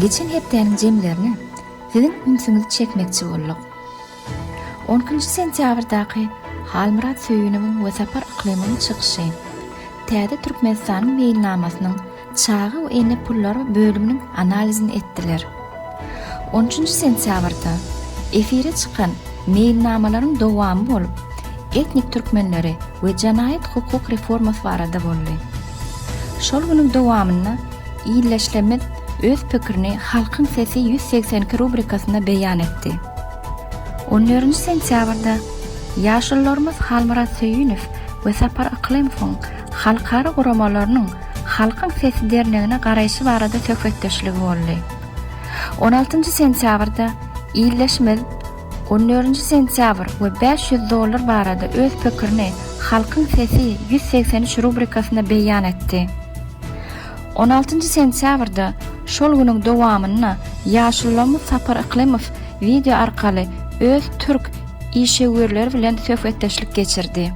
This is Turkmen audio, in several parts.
Geçen hepdäniň jemlerine siziň ünsüňizi çekmekçi bolduk. 10-njy sentýabrdaky Halmyrat Söýünowyň we Sapar Yklymyň çykyşy täze Türkmenistanyň meýilnamasynyň Çaga we ene pullar bölüminiň analizini etdiler. On üçünji sentýabrda efire çykan meýilnamalaryň dowamy bolup, etnik türkmenleri we jenaýat-hukuk reformasy barada boldy. Şol günüň dowamynda Illeşlemiz öz pikirini Halkyň sesi ýüz segsen iki rubrikasynda beýan etdi. On dördünji sentýabrda ýaşulularymyz Halmyrat Söýünow we Sapar Yklymowyň halkara guramalarynyň Halkyň sesi dernegine garaýşy barada söhbetdeşligi boldy. On altynjy sentýabrda Ildeşimiz on dördünji sentýabr we bäş ýüz dollar barada öz pikirini Halkyň sesi ýüz segsen üç rubrikasynda beýan etdi. On altynjy sentýabrda şol günüň dowamynda ýaşulylarymyz Sapar Yklymow wideo arkaly öz türk işewürleri bilen söhbetdeşlik geçirdi.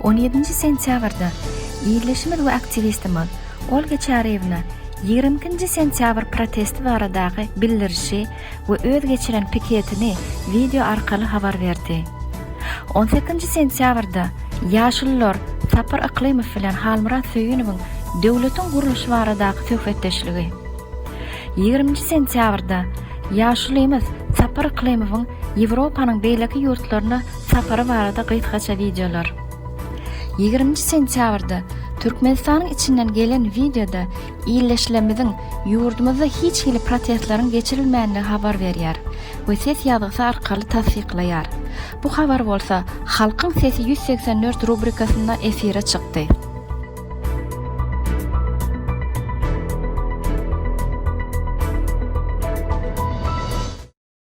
On ýedinji sentýabrda ildeşimiz we aktiwistimiz Olga Çaryýewna ýigrimi ikinji sentýabr protesti baradaky bildirişi we öz geçiren piketini wideo arkaly habar berdi. On sekinji sentýabrda ýaşulular Sapar Yklymow bilen Halmyrat Söýünowyň döwletiň gurluşy baradaky söhbetdeşligi. Ýigriminji sentýabrda ýaşulymyz Sapar Yklymowyň Ýewropanyň beýleki ýurtlaryna sapary barada gysgaça wideolar. Ýigriminji sentýabrda Türkmenistanyň içinden gelen wideoda ildeşlerimiziň ýurdumyzda hiç hili protestleriň geçirilmänligi habar berýär we ses ýazgysy arkaly tassyklaýar. Bu habar bolsa Halkyň sesi ýüz segsen dört rubrikasynda efire çykdy.